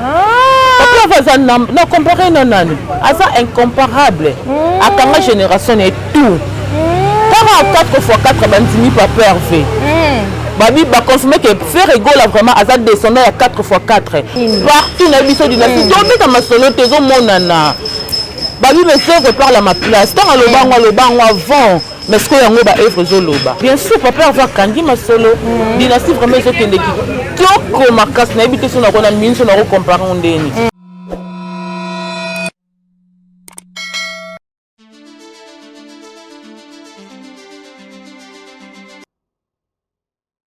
Papa Vaza na, na compare na nani? Aza incomparable. Mm. Akanga génération et tout. Mm. 44 fois 4 bandimi Papa Hervé. Mm. Babi ba confirmer que Ferre Gola vraiment aza descendant ya 4 fois 4. Mm. Partout na biso dynastie. Mm. Donc beta masolo tezo monana. Babi mais Ferre parle à ma place. Tant alobango alobango avant. mais sikoyo yango ba œuvre ezoloba bien sûr papa herve akangi masolo mm. dynastie vraiment ezokende kitoko makasi nayebi te so nakona minso nakocompare ngo ndeni mm.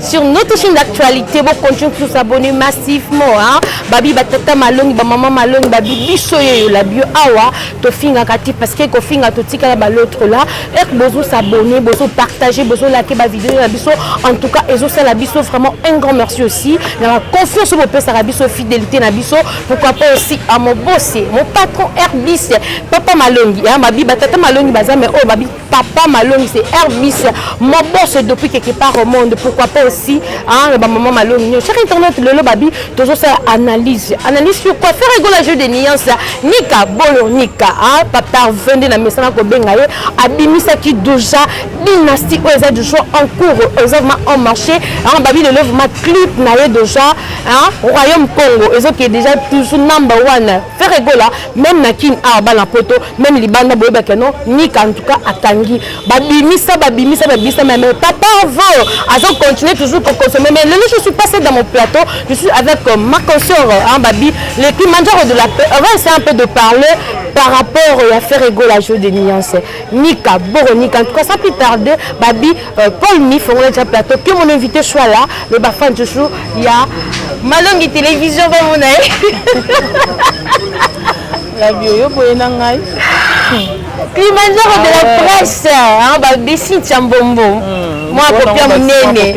sur notre chaîne d'actualité bo continue tous s'abonner massivement hein babi batata malongi ba maman malongi babi biso yo la bio awa to finga kati parce que ko finga to tika la l'autre là et bozo s'abonner bozo partager bozo liker ba vidéo na biso en tout cas ezo sala biso vraiment un grand merci aussi na la confiance bo pesa la biso fidélité na biso pourquoi pas aussi à mon boss mon patron Herbis papa malongi hein babi batata malongi baza mais oh babi papa malongi c'est rbis mon boss depuis quelque part au monde pourquoi pas aussi hein, ba maman malongi nyo chaque internet lelo babi tozo faire analyse analyse sur quoi faire rigolo jeu de nuance nika bolo nika hein, papa 22 na mesana ko benga ye abimisa ki déjà dynastie oyo eza toujours en cours eza vraiment en marché hein, babi lelo vraiment clip na ye déjà hein, royaume congo ezo ki déjà toujours number one faire rigolo même na kin ah bana poto meme libanda boyeba ke non nika en tout cas akangi babimisa babimisa babimisa mais mais papa vo azo continuer toujours ko consommer mais lelo je suis passé dans mon plateau je suis avec euh, ma consœur hein, babi les qui mangeaient de la paix on va essayer un peu de parler par rapport euh, à faire ego la jeu de nuance nika boro nika en tout cas sans plus tarder babi euh, paul mi fongola déjà plateau que mon invité soit là mais ba fan toujours il y a malongi télévision va mon Flavio yo boye na ngai Kilimanjaro de la presse hein, ba dessin tia mbombo hmm, mwa kopia munene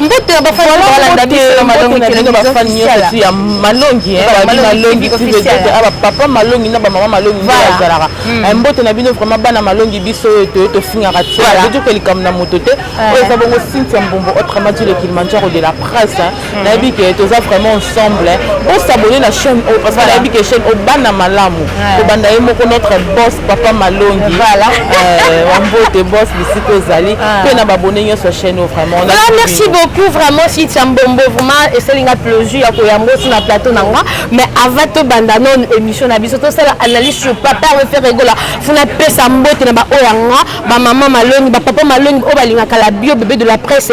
mbote na bafani balanda biso na malongi televizio bafani nyonso ti ya malongi babi malongi ti vedete aba papa malongi na bamama malongi nde bazalaka hmm. eh, mbote na bino vraiment bana malongi biso oyo toye tofingaka ti toyoka likambo na moto te oyo eza bongo sinti ya mbombo autrement dit le kilimanjaro de la presse nayebi ke toza vraiment ensemble bosabone na chaîne oyo parce que nayebi ke chaîne oyo bana malamu kobanda ye moko notre boss papa malongi wambote euh, boss bisika ozali mpe ah. na babone nyonso ya chaîne oyo vraiment ah, merci beaucoup vraiment sitia mbombo vraiment esali nga plaisir ya koyamba osi na plateau na nga mais avant tobanda no émission na biso tosala analyse sur papa refere egola funa pesa mbote na baoyo ya nga bamama malongi bapapa malongi oyo balingaka la bio bebe de la presse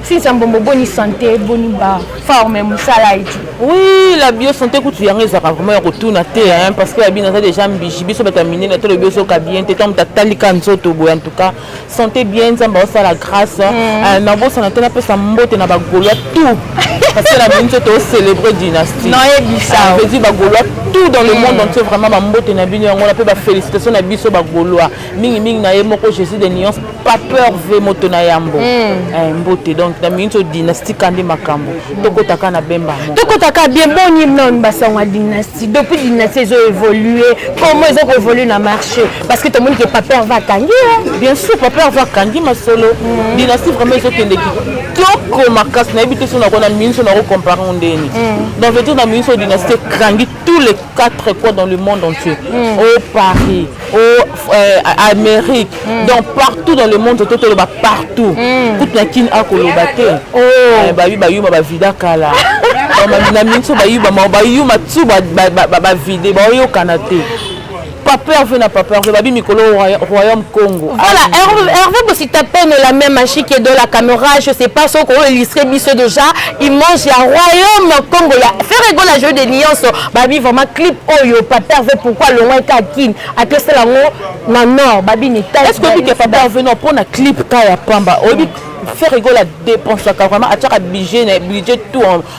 Cynthia Mbombo boni sante boni ba forme mosala eti oui la bio sante kutu yango ezalaka vraiment ya kotuna te hein, parce que yabi naza déjà mbiji biso bato ya minene to lobi ozoka bien te ntango tatalika nzoto boye en tout cas sante bien nzambe aosala grâce mm. euh, nabosana te napesa mbote na bagolois tout parce que na moni nzoto océlébré dynastie nayebisavedi ah, bagolois tout dans le mm. monde entier vraiment bambote na bino yango na mpe bafélicitation na biso bagolois mingi mingi na ye moko jésus de nuance pas peur ve moto na yambo hmm. eh, mbote donc na mingi nso dynastie kandi makambo tokotaka na bemba moko tokotaka bien boni non basango ya dynastie depuis dynastie ezo évolue comment ezo koévolue na marché parce que tomoni ke papeur va akangi bien sûr papeur va akangi masolo hmm. dynastie vraiment ezokende kitoko makasi nayebi te so nakona mingi nso nakocompare ngo ndeni hmm. donc vetir na mingi nso dynastie ekangi tous les quatre coins dans le monde entier. Mm. Au Paris, au euh, Amérique, mm. donc partout dans le monde, tout le monde partout. Mm. Toute la kin a kolobate. Oh. Eh, ba yu ba yu ba vida kala. Na minso ba yu ba ma ba yu ma tsu ba ba ba vida ba yo kanate. Papa Hervé na Papa Hervé babi mikolo royaume Congo. Voilà, ah, Hervé, Hervé bosi tapé mais la même magie qui est dans la caméra, je sais pas ce qu'on illustrer biso déjà, il mange ya royaume Congo ya faire ego la jeu de nuance, babi vraiment clip oyo Papa Hervé pourquoi le loin ka kin, a que c'est la ngo na nord, babi ni taille. Est-ce que Papa Hervé non pour na clip ka ya pamba, obi faire ego la dépense vraiment à chaque budget, budget tout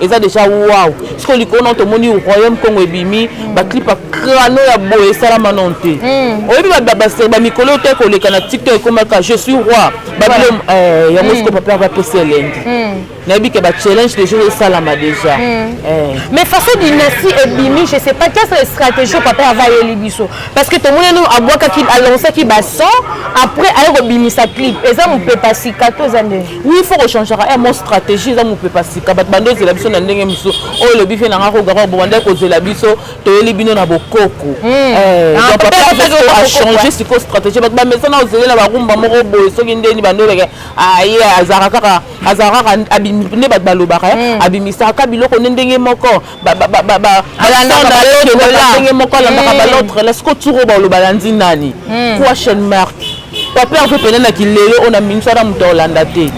eza deja wow siko likolo nao tomoni royaume congo ebimi mm. baclip ya crano ya boye esalama nao te mm. oyebi bamikolo te koleka na tiktok ekomaka je suis roi babilom eh, yango siko mm. papa bapesi elengi nayebi ke bachallenge deja esalama deja eh. mais façon dynastie ebimi je sais pas quelle stratégie papa ava ayeli biso parce que tomoni no abwakaki alansaki bason après aye kobimisa clip eza mopepa sika to eza nde Oui, il faut que changer eh, mon stratégie eza mopepa sika bato bando ozela biso na ndenge mosusu oyo elobi fe nanga kogaka bobandaki kozela biso toyeli bino na bokoko achange sikoyo stratégie bato bamesana ozelela barumba moko boye soki ndeni bando oleke aye azalaka kaka azalaka kaka nde bato balobaka abimisaka biloko nde ndenge moko ndenge moko alandaka balotre la siko turo baoloba landi nani question mark papa yango pene na kilelo oyo na minso ana moto aolanda te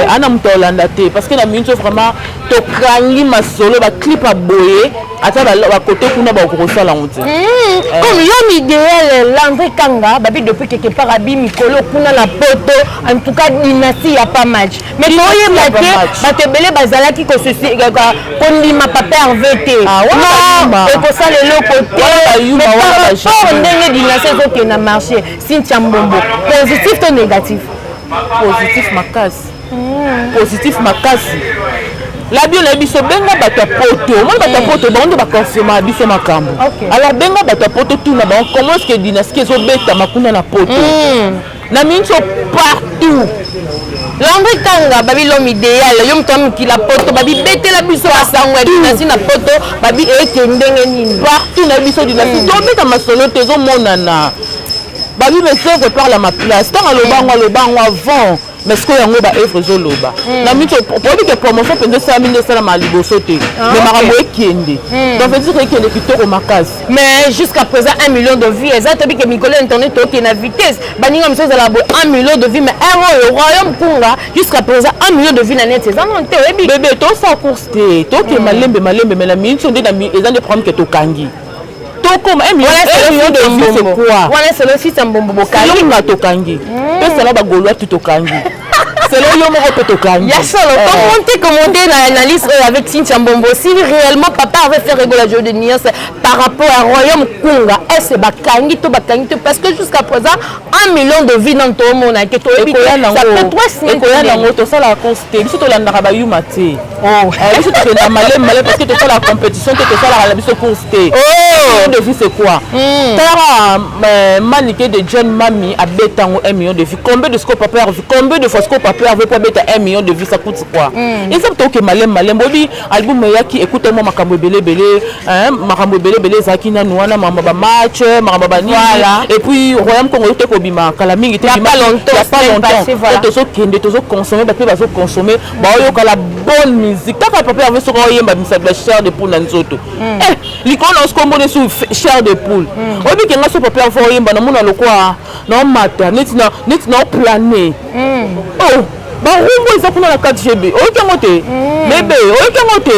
ana moto aolanda te parce que na minso vraiment tokangi masolo baclip ya boye ata bakote kuna bakoki kosala yango te hmm, eh. comme l'homme idéal landri kanga babi depuis quelque part abi mikolo kuna na poto en tout cas dynastie ya pas match mais toyeba te bato ebele bazalaki kondima papa herve te ekosala eloko teport ndenge dinase ezokenda marché cynthia mbombo positif to négatif positif makasi hmm. positif makasi labio na biso benga bato ya poto omoni bato ya hmm. poto bango nde baconfirma biso makambo alors benga bato ya poto tuna bango comment eske dynastie ezobetama kuna na poto hmm. na minso partout lango ekanga babi l'homme idéal yo moto ya mokila poto babibetela biso basango ya dinasi na poto babi eke ndenge nini partout na biso dinasi hmm. tobeta masolo te ezomonana babi monsieur que par la ma place ntango alobango alobango avant mais sikoyo yango baevre ezoloba hmm. na mito oyebi ke promotion mpenza esalami nde esalama liboso te ah, me makambo ekende hmm. donc veut dire ekende kitoko makasi mais jusqu'à présent 1 million de vie eza toyebi ke mikolo ya internet tookende na vitesse baninga mosusu ezala boye 1 million de vie mais heure oyo royaume kunga jusqu'à présent 1 million de vie na net eza nano te oyebi bebe tosala course te tokende malembe malembe mais na minute oyo nde eza nde problème ke tokangi tokoma wana selo fisa mbombo bokangi nga tokangi tosala bagolwa tu tokangi selo yo moko mpe tokangi ya solo eh. commente commente na analyse oyo avec cintia mbombo si réellement papa avait fait regola jeu de nuance par rapport à royaume kunga ese bakangi to bakangi te parce que jusqu'à présent un million de vie nano toomona ke toyebi ekoya nango tosala conste biso tolandaka bayuma te Oh, eh, biso tokenda malemi malemi parce que tosala compétition te tosalaka na biso course te oh! de vie c'est quoi hmm. tara euh, manike de john mami abeta yango 1 million de vie combien de scope paper vie combien de fois scope paper vie po abeta 1 million de vie ça coûte quoi hmm. eza toke malemi malemi bobi album eyaki ekuta mwa makambo ebele ebele makambo ebele ebele ezalaki nanu wana makambo ba match makambo ba nini et puis royaume congo te kobima kala mingi te bima ya pas longtemps tozokende tozokonsommer bape bazokonsommer baoyoka la bonne musique kaka papa yango soki oyemba misato ya chair de poule na nzoto hmm. eh, likolo na osiko omoni su chair de poule hmm. oyebike nga so papa yango fo oyemba namona lokola naomata neti naoplane hmm. oh, barumbu eza kuna na 4 gb oyoki yango te bebe oyoki yango te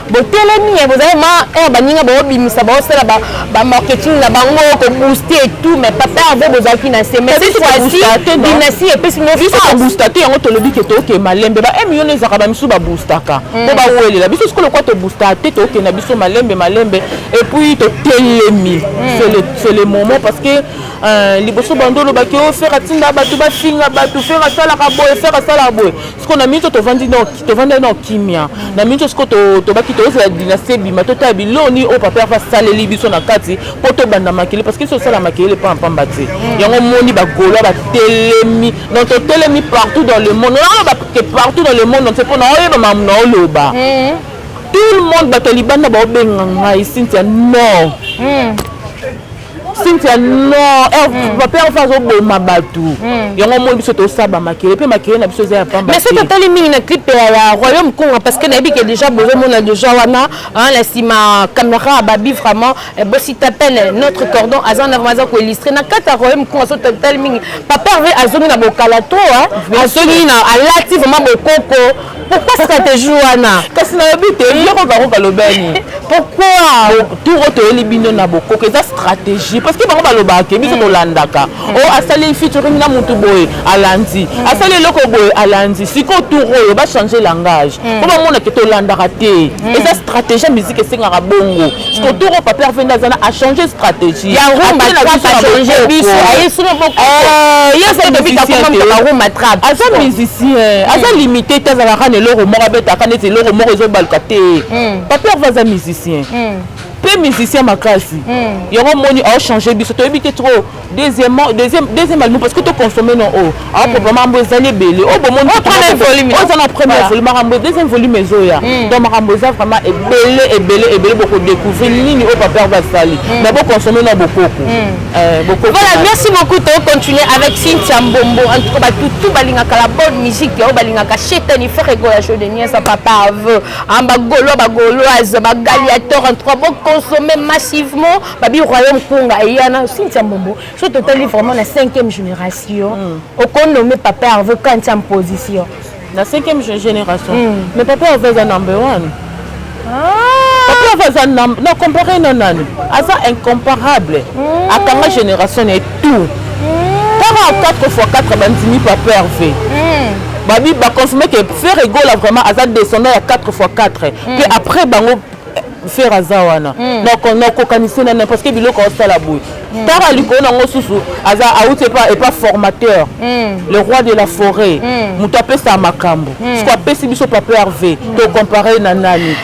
botelemi ye bozali ma heure eh, baninga baobimisa baosala bamarketing na bango kobooste etout mais papa herve bozalaki na se mais cette fois-ci dynastie epesi biso koboosta te yango tolobi ke tooke malembe ba emion eh, ezalaka bamisusu baboostaka mpo hmm. bawelela biso sikoyo lokola toboostaka te tooke na biso malembe malembe epuis totelemi hmm. c'est le moment parce que euh, liboso bando olobaki o oh, fere atinda bato bafinga bato fere asalaka boye fere asalaka boye siko na minso tovandi tovandai na kimia na minso siko tobaki tozala dynastie ebima totala biloko nini oyo papa yafa saleli biso na kati mpo tobanda makele parce que biso tosala makele mpamba mpamba te yango omoni bagolois batelemi donc totelemi partout dans le monde naoloba ke partout dans le monde entier mpo naoyeba mamu naoloba eh. tout le monde bato ya libanda baobenga ngai sintia non hmm. cynthia non eh, hmm. papa yango mpe azoboma bato hmm. yango omoni biso tosaba makele mpe makele na biso eza ya pamba mais soki totali mingi na clipe ya royaume konga parce que nayebi ke déjà bozomona déjà wana na nsima caméra ababi vraiment eh, bosi tapele notre cordon aza na vraimen aza koillustre na kati ya royaume konga soki totali mingi papa azongi na bokala to azongi na alati vraiment bokoko pourquoi stratégie wana kasi nalobi te biloko bango balobani pourquoi tour oyo toyeli bino na bokoko eza stratégie parce que bango balobaka ke biso tolandaka mm. o oh, asali featuring na motu boye alandi mm. asali eloko boye alandi sikoyo tour oyo bachange langage mpo mm. bamonake tolandaka te stratégie musique esengaka bongo siko hmm. toro papier vende aza na achange stratégie ya rumba trap achange biso aye sino bokoyesokobitakomamukakarumba trap aza musicien aza hmm. limité te azalaka na eloko moko abetaka neti eloko moko ezobaluka te hmm. papier va aza musicien mpe musicien makasi yango moni aochange biso toyebi te trop deuxièmement deuxième deuxième album parce que to consommer non oh ah hmm. papa mambo ezali ebele oh bon mon oh, premier volume oh ça na premier volume mambo deuxième volume ezoya hmm. donc mambo eza vraiment ebele ebele ebele boko découvrir nini oh papa va sali hmm. mais bo consommer non bokoko euh bokoko voilà merci beaucoup to continuer avec Cynthia Mbombo en tout cas ba tout tout balinga kala bonne musique oh balinga ka chetani frère go ya show de nuit ça papa veut amba golo ba goloise ba galiator en tout cas bo consommer massivement babi royaume kunga eyana cynthia mbombo so totali vraiment na cinquième génération mm. okonome papa herve kanti en position na cinquième génération mm. mais papa herve eza number one ah. papa herve aza na compare na nani aza incomparable mm. akanga génération na tout kaka 4 fois 4 bandimi papa herve mm. babi baconfirme ke ferre egola vraiment aza descendant ya 4 fois 4 mpe mm. après bango fer aza wana hmm. nakokanisi na parce que biloko asala boye hmm. tara likolo nango susu aza auti epa formateur hmm. le roi de la forêt moto apesa makambo siko apesi biso papa herve tocompare na nani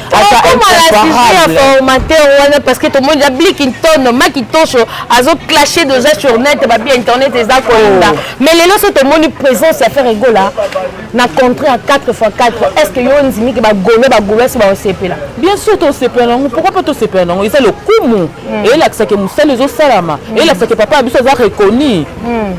formateur wana parce que tomoni ya bliki ntono maki tosho azoclashe deja sur net babi internet eza kolanda oh. mais lelo so tomoni présence ya fer egola na contrat ya 4 x 4 est ce que yo ondimi ke bagolo bagoloise baosepela bien sûr tosepela nango pourkoi mpe tosepela nango eza lokumu hmm. elakisake mosala ezosalama hmm. elakisake papa ya biso aza reconi hmm.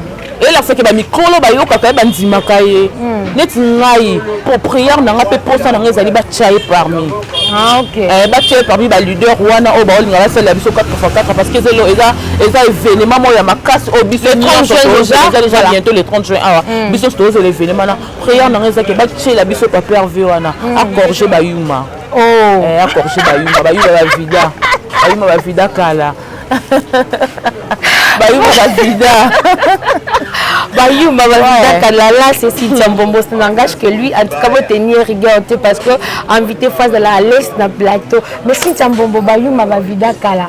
elakisake bamikolo bayokaka ye bandimaka ye neti ngai propriere na ngai mpe mposa na ngai ezali batya ye parmi Ah, okay. eh, batie parmi baleader wana oyo baolinga basalela biso 4 fois 4 parce que ezelo eza eza événement moko ya makasi oyo biso nyonsoeza déjà bientôt le 30 juin awa mm. biso nyonso tozela événement na prière nanga ezaki batiela biso paper v wana mm. acorge bayuma oh. eh, acorge bayuma bayuma bavida bayuma bavida kala bayuma bavida bayuma bavida kalala ceci dia mbombo ce langage que lui en tout cas botenir rigueur te parce que invité fois de la laisse na plateau mais cynthia mbombo bayuma bavida kala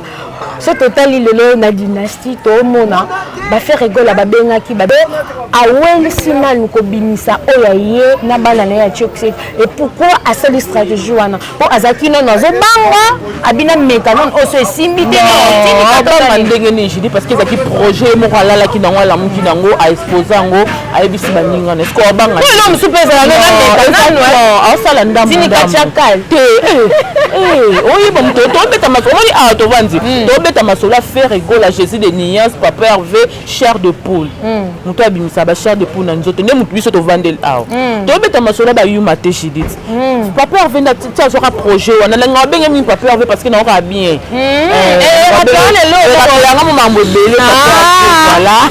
so totali lelo na dynastie toomona bafaire egola babengaki babe awelisi nanu kobimisa oyo aye na bana na ye ya tioxi et pourquoi asali stratégie wana po azalaki nono azobanga abina meka nono oso esimbi te abanga ndenge nini judi parce que ezalaki projet moko alalaki nango alamuki nango aexpose yango ayebisi baninga na esiko abanga lelo mosusu mpe ezala nonaasala ndambotinikacakai te oyeba moto tobeta masolo omoni awa tovandi tobeta masolo ya ferre egola jésus de niance papa herve chair de poule moto abimisa ba chair de poule na nzoto nde moto biso tovandeli awa tobeta masolo bayuma te judith papa herve nda ti azwaka projet wana nanga abenge mingi papa herve parce que naokaka bien yanga mo mambo ebele voilà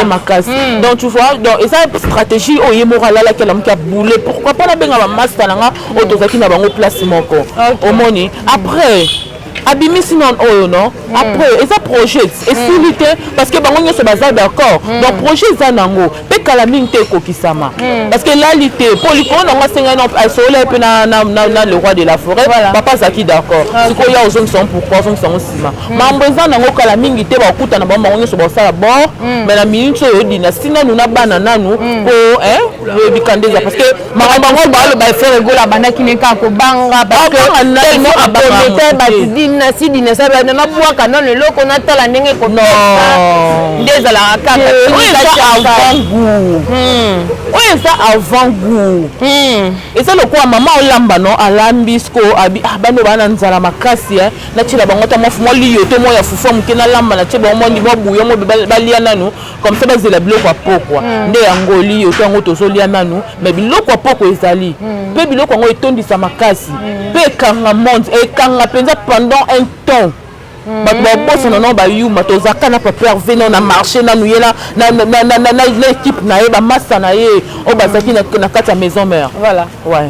makasi donc tu vois donc eza stratégie oyo ye moko alalaki alamuki aboule pourquoi mpo nabenga bamasta na nga oyo tozalaki na bango place moko okay. omoni après abimisi non oyo non hmm. après eza projet esili hmm. te parce que bango nyonso baza d'accord hmm. donc projet eza nango mpe kala mingi te ekokisama parce que lali te mpo likolo nango asengai no asola ye mpe na le roi de la forêt papa azalaki d'accord ah, sikoyo ya ozongisa yango pourkoi ozongisa yango nsima mambo eza nango kala mingi te bakutana bango bango nyonso bakosala bor mais na minute oyo dynastie nanu na bana nanu mpo eh, boyebika nde eza parce que makambo yango baloba frere gola abandaki ne kaka kobanga parcequetellement akomete bato dinasi dinasi abanda nabwaka nano eloko natala ndenge ekobeta nde ezalaka kaka oyo eza avant gour hmm. oyo eza avant gour hmm. eza lokola mama olamba no alambi siko abi ah, bano baa na nzala makasi eh. natyela bango ta mwa liyoto mwa ya fufu ya moke nalamba natye bango mwa ndimwa buyo mwa balia nano comme ça bazela biloko ya pokwa mm. nde ya ngoli yo to yango tozolia nanu mais biloko ya pokwa ezali mm. mpe biloko yango etondisa makasi mm. mpe ekanga monde ekanga mpenza pendant un temps bato babosana nao bayuma tozaka na paper v nao na marché nanu ye na équipe na ye bamasa na ye oyo bazalaki na kati ya maison mare voilà ouais.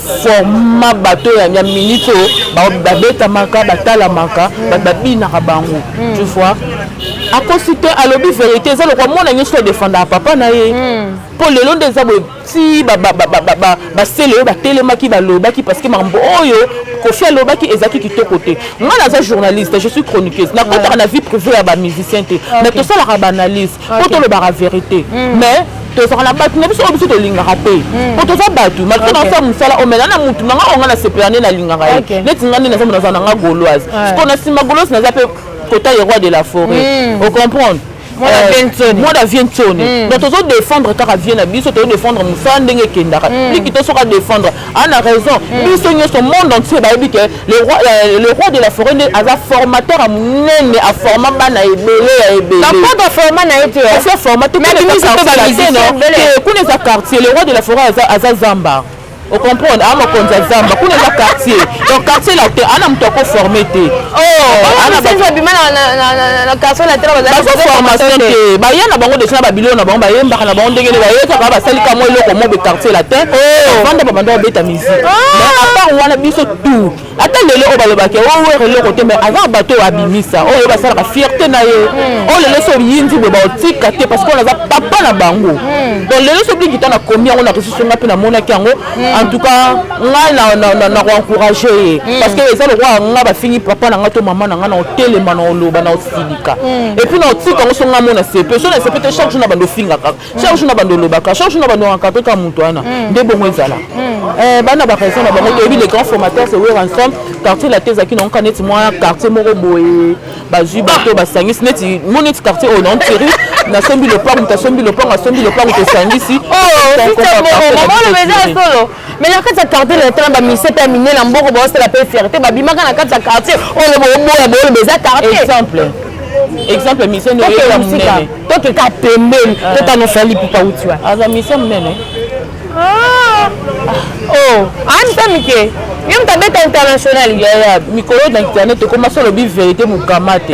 forma bato oyo ya minute oyo babetamaka batalamaka bato babinaka bango hmm. tu vois akosi te alobi verité eza lokwa mwana nyonso adefendaka papa na ye mpo hmm. lelo nde eza boye ti basele oyo batelemaki balobaki parce que makambo oyo kofi alobaki ezalaki kitoko te ngai naza journaliste je suis chroniqueuse nakotaka na vie privée ya bamusicien te mais tosalaka baanalyse mpo tolobaka verite mm. mais tozalaka na bato na biso oyo biso tolingaka te mm. mpo toza bato malgre nasala mosala omela na motu na nga oyo nga nasepela nde nalingaka ye neti nga nde naza moto naza na nga goloise siko na nsima goloise naza mpe kota ye roi de la forêt mm. ocomprendre Euh, mwana vie nsoni hmm. donc tozo défendre kaka vie na biso tozo défendre mosala ndenge ekendaka liki hmm. to soki adéfendre ana raison hmm. biso nyonso monde entier bayebi ke Le roi, euh, le roi de la forêt nde aza formateur ya monene aforma bana ebele ya ebeleapota aforma na ye te asi aforma te kuna eza quartier le roi de la forêt aza zamba ocomprendre aa mokonzi ya zamba kuna eza quartier donc quartier latin ana moto akoforme te bazoformation te baya na bango deja na babilo na bango bayembaka na bango ndenge nde bayekaka basali kamwa eloko mobe quartier latin bavanda babanda babeta bango oh! wana biso tout ata lelo oyo balobaka oyo oh, eloko te mais aza bato oyo abimisa oyo oh, basalaka fierte na ye hmm. oyo lelo so oyinzi boye baotika te parce que wana aza papa na bango hmm. donc lelo so blikita na komi yango na resusu nga mpe namonaki yango hmm. en tout cas ngai na koencourage ye parce que eza lokola nga bafingi papa na nga to mama na nga na otelema na oloba na osilika epuis na otika yango so nga mona sepe so na sepe te chaque jour na bando ofingaka chaque jour na bando olobaka chaque jour na bando akapeka moto wana mm. nde bongo ezala mm. eh, bana baraison na bango toyebi le grand formateur se wer ensemble quartier late ezalaki nangoka neti mwa quartier moko boye bazwi bato ah. basangisi neti mo neti quartier oyo na ntiri nasombi lopango moto asombi lopango asombi lopango tosangisi oh, mais na kati ya quartier na tala ba mise pe mine na mboko ba osala pe fierté ba bimaka na kati ya quartier oyo bo boya bo le beza quartier exemple exemple mise no yo musika to ke ka pembeni ah. to tano fali pupa utiwa aza mise mnene ah oh an ah, tamike yo mtabeta international ya ya mikolo na internet tokoma solo bi vérité mukama te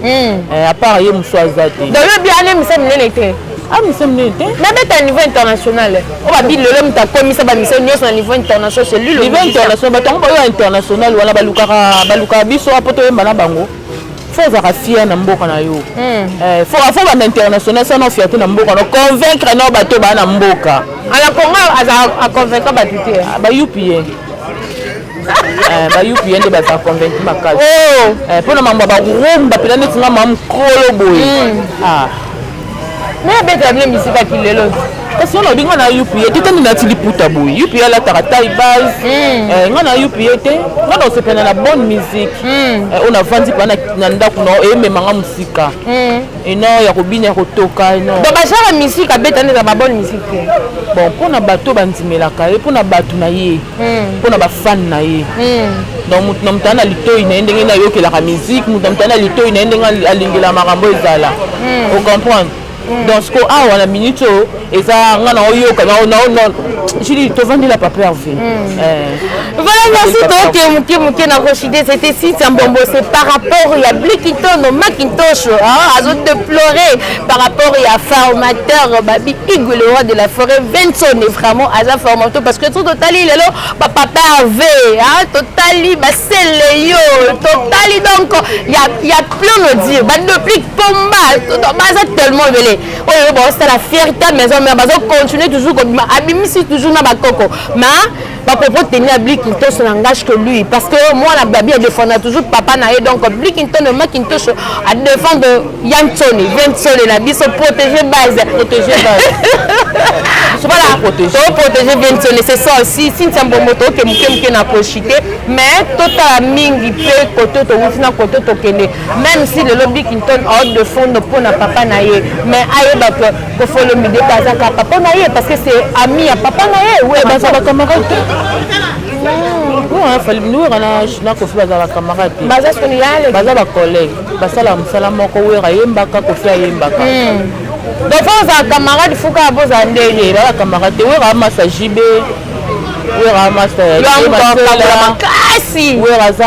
Hmm. Eh, à part ye mosusu aza te dolobi ana emission monene te amisa ah, monene te nabeta niveau international oyo babi lelo moto akomisa bamisio nyonso na niveau international c'est lui niveau international bato yango bayo ya international wana balukaka balukaka biso apo toyemba na bango fo ozalaka fier na mboka na yo hmm. eh, fo banda international sana fierte na mboka no convaincre nao bato baa na mboka ala congo aza aconvaincre bato te ah, bayupi ye Eh, bayupi ye nde baza convaincu makasi oh! eh, mpo na mambo ya barumba mpena neti nga mamu kolo boye hmm. ah. me abetaka bino misika kilelo kasi wana olinga na yupi ye te tani nati liputa boye yupi ye alataka tai base hmm. eh, nga na yupi ye te nga na osepelana na bonne musique hmm. oyo navandi mpa na ndako na emema nga mosika et non ya kobina ya kotoka et non donc bazalaka musique abeta nde na ba bonne musique te bon mpo na bato bandimelaka ye mpo na bato na ye hmm. mpo na bafane na ye hmm. donc moto na moto ana litoi na ye ndenge nde ayokelaka musique moto na moto ana litoi na ye ndenge alingela makambo ezala hmm. ocomprendre donc siko awa na minute oyo eza nga na oyoka na na na jili tovandi la papa Hervé hmm. eh. voilà merci donc muke muke na rochide c'était si sambombo c'est par rapport ya blikitono macintosh azo déplorer par rapport ya formateur babi igu le roi de la forêt Vincent est vraiment aza formateur parce que tout totali lelo ba papa Hervé hein totali ba seleyo totali donc ya ya plein de dire ba deplique pomba baza tellement belé oyo yo baosala fierté ya maison mère bazo continuer toujours kobima abimisi toujours na bakoko ma bapropos teni ya blikintoso na ngage que lui parce que mwana babi adefenda toujours papa na ye donc blikintono makintoso adefendre ya nsoni vie nsoni na biso protégé base protégé base voilà toprotégé vie nsoni c'est ça aussi sintia mbombo toke moke moke na koshite mais totala mingi mpe kote towuti na kote tokende meme si lelo bickinton aode de fondo mpo na papa na ye mais ayeba ke kofolomide mpe azaka papa na ye parce que c'est ami ya papa na ye we baza bacamarade te wera na kofi baza bacamarade te baza bacollègue basalaka mosala moko wera ayembaka kofi ayembaka donc fo ozala camarade fuka bozala ndenge baza camarade te wera amasa jibe wera amasa makasi wera aza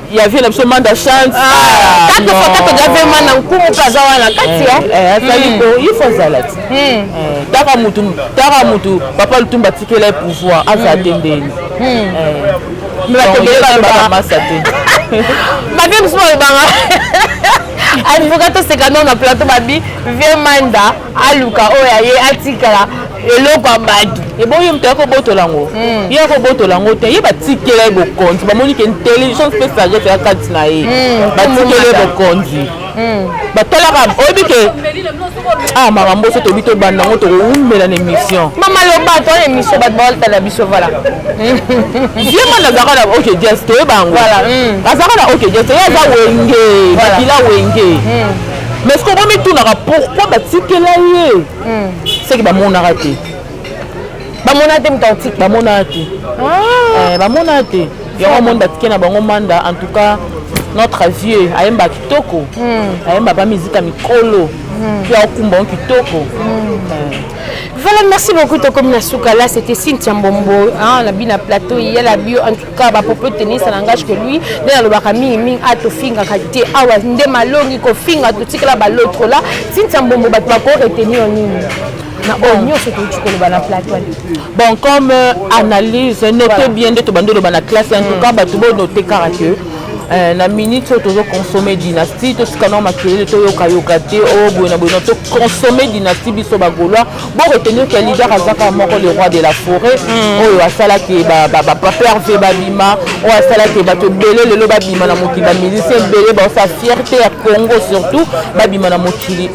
ya vie na biso manda chance ah, kaka fo kaka ja vie mana nkumu mpe aza wana kati ya eh, eh, azali hmm. ko il faut azala ti hmm. eh, taka mutu taka mutu papa lutumba atikela ye pouvoir azala hmm. te ndeni masa te babe mosusu balobanga advocat tosekano na plateau babi vie manda aluka oyo aye atikala eloko ya bato eboyi moto yako botola yango hmm. ye yako botola yango te ye batikela ye bokonzi bamoni ke intelligence mpe sagesse ya kati na ye hmm. batikela ye bokonzi hmm. batalaka oyebi ke ah makambo oso toyebi tobanda yango tokowumela na émission mama loba to na émission bato baotala biso vala ye mwana azalaka na ok jes toyeba yango azalaka na ok jes ye aza wenge bakila wenge mais soki okomitunaka pourkui batikela ye hmm. seke bamonaka te bamonaka te mutautike bamonaka te ah. eh, bamonaka te yango monde atike na bango manda en tout cas notre vieux ayemba kitoko hmm. ayemba ba musique ya mikolo hmm. mpe aokumba yango kitoko eh. Voilà, merci beaucoup. Tokomi na suka là, c'était Cynthia Mbombo, hein, la bina plateau, il y a la bio. En tout kaka ba propos tenir ça n'engage que lui nde nalobaka mingi mingi a ah, tofingaka te awa ah, nde malongi kofinga totikala ba l'autre là tintia mbombo bato bako retenir nini na oyo oh, nyonso touti koloba na plateau bon comme euh, analyse note bien nde tobandi oloba na classe en tout cas bato bo note kaka que euh, na minute oyo tozo consomme dynastie totika nao makelele toyokayoka te oyo oh, boye na boye na toconsomme dynastie biso bagolois Bon retenir que leader azaka moko le roi de la forêt mm. oyo asalaki baperve babima oyo asalaki bato ebele lelo babima na mokili bamusicien ebele baosa fierté ya congo surtout babima na mokili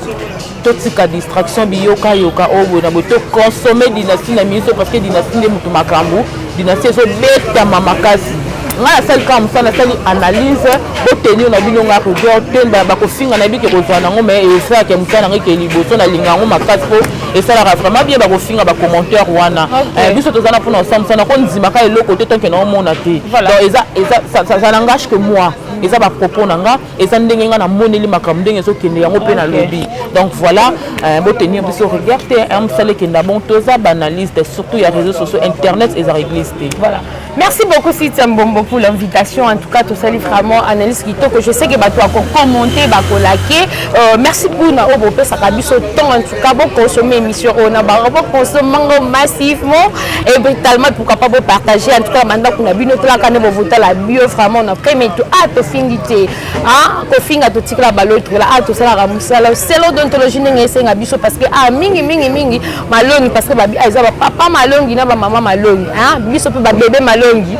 totika distraction biyokayoka oyo boye na boye toconsomme dynastie na miso parce que dynastie nde moto makambo Dynastie ezo betama makasi. Nga na sali kaka musala na sali analyse bo tenir na bino nga rigueur te mbala bako finga na bike kozwa nango mais eza ke musala na ngai ke liboso na linga yango makasi po esalaka vraiment bien bako finga ba commentaire wana. Eh, biso toza na pona osala musala ko nzima ka eloko te tant que na omona te. Donc eza eza ça n'engage que moi. Eza ba propos na nga. eza ndenge nga na moneli makambo ndenge ezokende yango mpe nalobi donc voilà euh, botenir biso regard te hein, mosala ekenda bon toza banaliste surtout ya réseau sociaux internet eza réglise te voilà merci beaucoup sitia mbombo pour l'invitation en tout cas tosali vraiment analyse kitoko je sais que bato ya kokommente bakolake euh, merci mpona oyo bopesaka biso temps Quand vous consommez l'émission, on a vous consommez massivement et brutalement pourquoi pas vous partager en tout cas maintenant qu'on a bien notre quand vous votez la bio vraiment on a pris mais tout ah tout fini t'es ah qu'on finit à tout tirer la balle tout là ah tout ça la ramoussa là c'est l'odontologie n'est c'est un biso parce que ah mingi mingi mingi malongi parce que babi ah ils ont papa malongi n'a maman malongi hein biso peut babi bébé malongi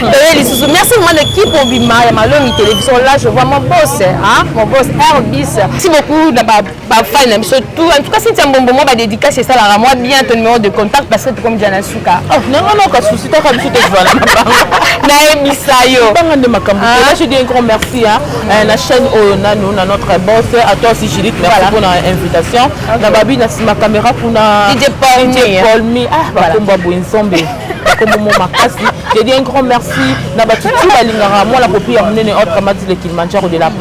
toyeli susu merci vraiment na équipe obima ya malongi télévision là je vois mon boss hein mon boss Airbus merci beaucoup na ba ba fan na biso tout en tout cas Cynthia Mbombo moi ba dédicace esalaka moi bien ton numéro de contact parce que tokomi déjà na suka oh non non non ka souci to ka biso tozwana na bango na ebisa yo banga nde makambo te là je dis un grand merci hein eh, na chaîne oyo nanu na notre boss à toi aussi Judith merci pour na invitation na babi na sima caméra kuna DJ Paul DJ Paul mi ah ba komba boye nzombe komomo makasi je dis un grand merci na bato tu balingaka mwana popi ya monene autre mati le kilimanjaro de la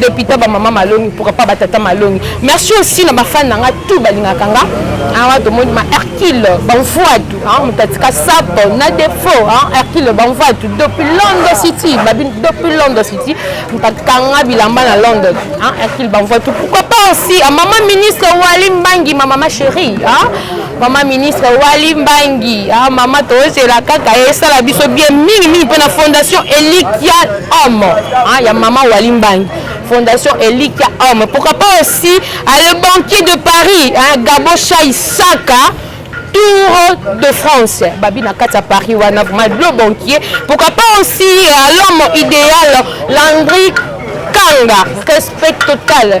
Deputa ba mama malongi pourquoi pas ba tata malongi. Merci aussi na ba fan na nga tout balingaka nga. Awa to moni ma Hercule Banvuatu hein mutatika sapo na défaut hein Hercule Banvuatu depuis London City babin depuis London City mutatika nga bilamba na London hein Hercule Banvuatu pourquoi pas aussi à maman ministre Wali Mbangi ma maman chérie hein Mama ministre Wali Mbangi, ah mama tozela kaka esala biso bien mingi mingi mpe na fondation Elikia Homme ah, ya mama Wali Mbangi fondation Elikia Homme. Pourquoi pas aussi ah, le banquier de Paris, hein, Gabo Chaisaka tour de France babi na kati ya paris wana vraimen le banquier pourquoi pas aussi euh, l'homme idéal landri kanga respect total